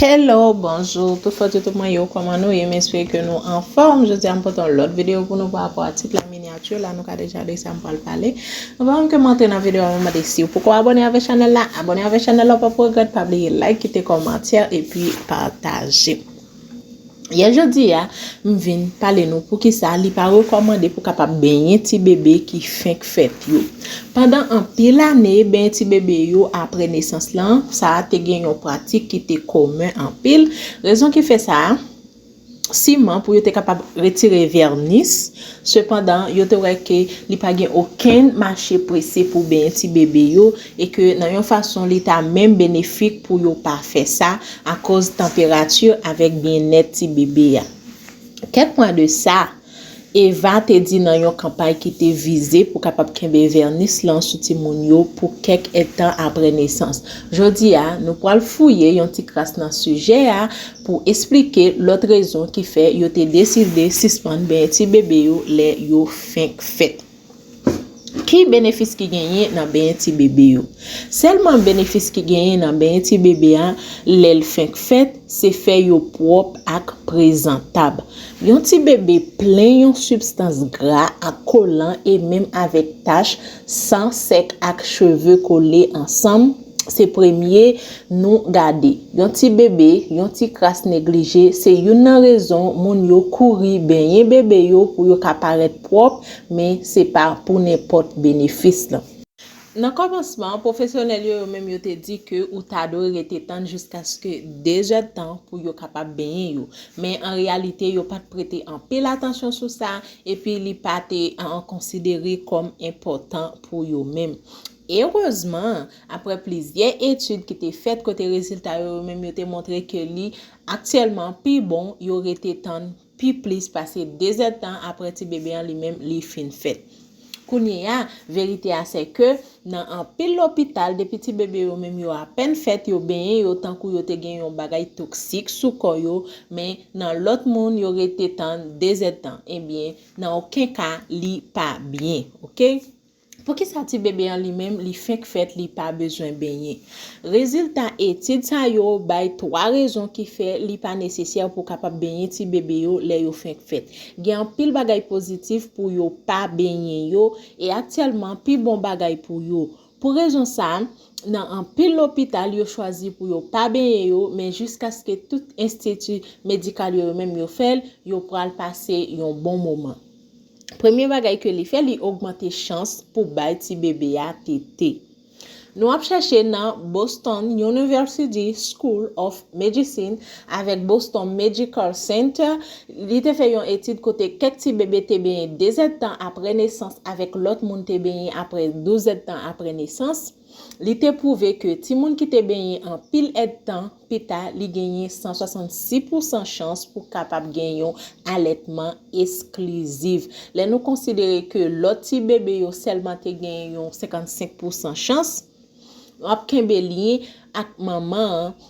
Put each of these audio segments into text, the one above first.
Hello bonjour tout fòt yo tout mwen yo kòman nou ye m espere ke nou anfòm jodi a m pote yon lòt video pou nou pa rapò a tit la miniature la nou ka deja de sa m pral pale avan menm ke m antre nan video a mwen mande siw poko abone avè chanèl la abone avè chanèl la w pap regrèt pa bliye like kite kòmantè epi pataje. Yè jodi a, m vin pale nou poukisa li pa rekòmande pou kapab benyen ti bebe ki fenk fèt yo. Pandan anpil ane, benyen ti bebe yo apre nesans lan, sa a te gen yon pratik ki te komen anpil. Rezon ki fè sa a, siman pou yo te kapab retire vènis Sepandan, yo te wè ke li pa gen okenn mache prese pou benyen ti bebe yo, e ke nan yon fason li ta menm benefik pou yo pa fè sa, akoz tanperati avèk byennèt ti bebe a. Kèk mwa de sa, Eva te di nan yon kanpay ki te vize pou kapab kenbe vènis lan sou timoun yo pou kèk èdtan apre nesans. Jodi a, nou pral fouye yon ti kras nan sijè a, pou esplike lòt rezon ki fè yo te deside sispann benyen ti bebe yo lè yo fenk fèt. Ki benefis ki genyen nan benyen ti bebe yo? Sèlman benefis ki genyen nan benyen ti bebe a lè l fenk fèt se fè yo pwòp ak prezantab. Yon ti bebe plen yon sibstans gra ak kolan e menm avèk tach San sèk ak cheve kole ansanm, se premye nou gade. Yon ti bebe, yon ti kras neglije, se youn nan rezon moun yo kouri benyen bebe yo pou yo ka parèt pwòp, men se pa pou nenpòt benefis lan. Nan kòmansman, pwofesyonèl yo yo menm yo te di ke ou ta dwe rete tann jiskaske 2 zèdtan pou yo kapab benyen yo. Men an reyalite yo pa t prete anpil atansyon sou sa, epi li pa te konsidere kòm enpòtan pou yo menm. Erezman, apre plizyè etid ki te fèt kote rezilta yo yo menm yo te montre ke li aktyèlman pi bon yo rete tann pi plis pase dezèdtan apre ti bebe an li menm li fin fèt. Kounyeya, verite a sè ke. Nan anpil lopital, depi ti bebe yo menm yo apèn fèt, yo benyen yo tankou yo te gen yon bagay toksik sou kò yo, men nan lòt moun yo rete tann 2 zèdtan. Ebyen, nan oken ka li pa byen. Ok. Poukisa ti bebe an li menm li fenk fèt li pa bezwen benyen? Rezilta etid sa yo bay 3 rezon ki fè li pa nesesè pou kapab benyen ti bebe yo lè yo fenk fèt. Gen anpil bagay pozitif pou yo pa benyen yo, E aktyèlman pi bon bagay pou yo. Pou rezon sa, nan anpil lopital yo chwazi pou yo pa benyen yo men jiskaske tout enstiti medikal yo yo menm yo fè l, yo pral pase yon bon moman. Premye bagay ke li fè li ogmante chans pou bay ti bebe a tete. Nou ap chèche nan Boston University School of Medicine avèk Boston Medical Center, li te fè yon etid kote kèk ti bebe te benyen dezèdtan apre nesans avèk lòt moun te benyen apre douzèdtan apre nesans, li te pwouve ke timoun ki te benyen anpil èdtan, peta li genyen 166 pousan chans pou kapab gen yon alètman esklizif. Lè nou konsidere ke lòt ti bebe yo sèlman te gen yon 55 pousan chans, yo ap kenbe lyen ak manman an,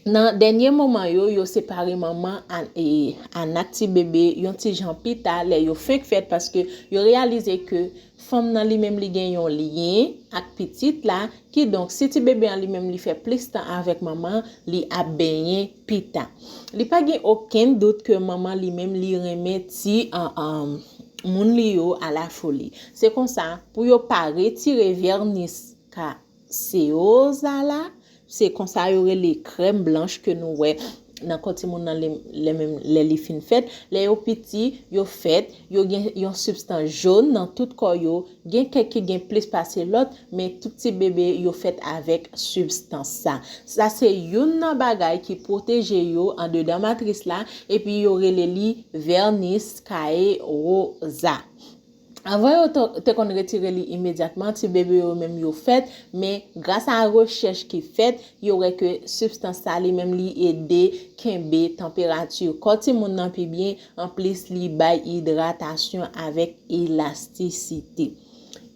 nan dènye moman yo, yo separe manman an ak ti bebe yon ti jan pita lè yo fenk fèt paske yo reyalize ke Fanm nan li menm li gen yon lyen ak pitit la, kidonk si ti bebe an li menm li fè plis tan avèk manman, li ap benyen pita. Li pa gen okenn dout ke manman li menm li renmen ti Moun li yo a la foli. Se konsa, pou yo pa retire vènis ka. Seoza la se konsa yo rele krèm blanch ke nou wè nan kò timoun nan lè menm lè li fin fèt lè yo piti yo fèt yo gen yon sibstans jon nan tout kò yo gen kèk ki gen plis pase lòt men tout ti bebe yo fèt avèk sibstans sa sa se youn nan bagay ki pwoteje yo andedan matris la epi yo rele li vènis kaye woza Avan yo te konn retire li imedyatman ti bebe yo menm yo fèt, men gras a rechèch ki fèt, yo wè ke sibstans sa li menm li ede kenbe tanperati kò timoun nan pi byen, anplis li bay idratasyon avèk elastisite.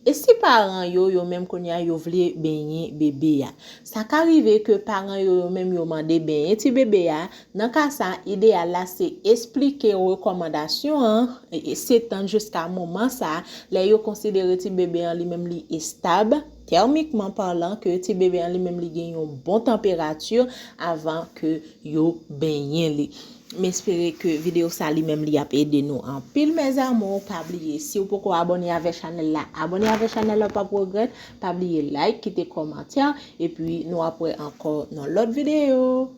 E si paran yo, yo menm kounye a yo vle benyen bebe a? Sa ka rive ke paran yo yo menm yo mande benyen ti bebe a, Nan ka sa, ideyal la se esplike rekòmandasyon an setand jiska moman sa lè yo konsidere ti bebe an li menm li estab, tèmikman palan, ke ti bebe an li menm li gen yon bon tanperati avan ke yo benyen li. M espere ke video sa li menm li ap ede nou anpil mes amours, pa bliye si ou poko abòne avè chanèl la, abòne avè chanèl la ou pap regrèt, pa bliye like, kite kòmantè, epi nou ap wè ankò nan lòt video.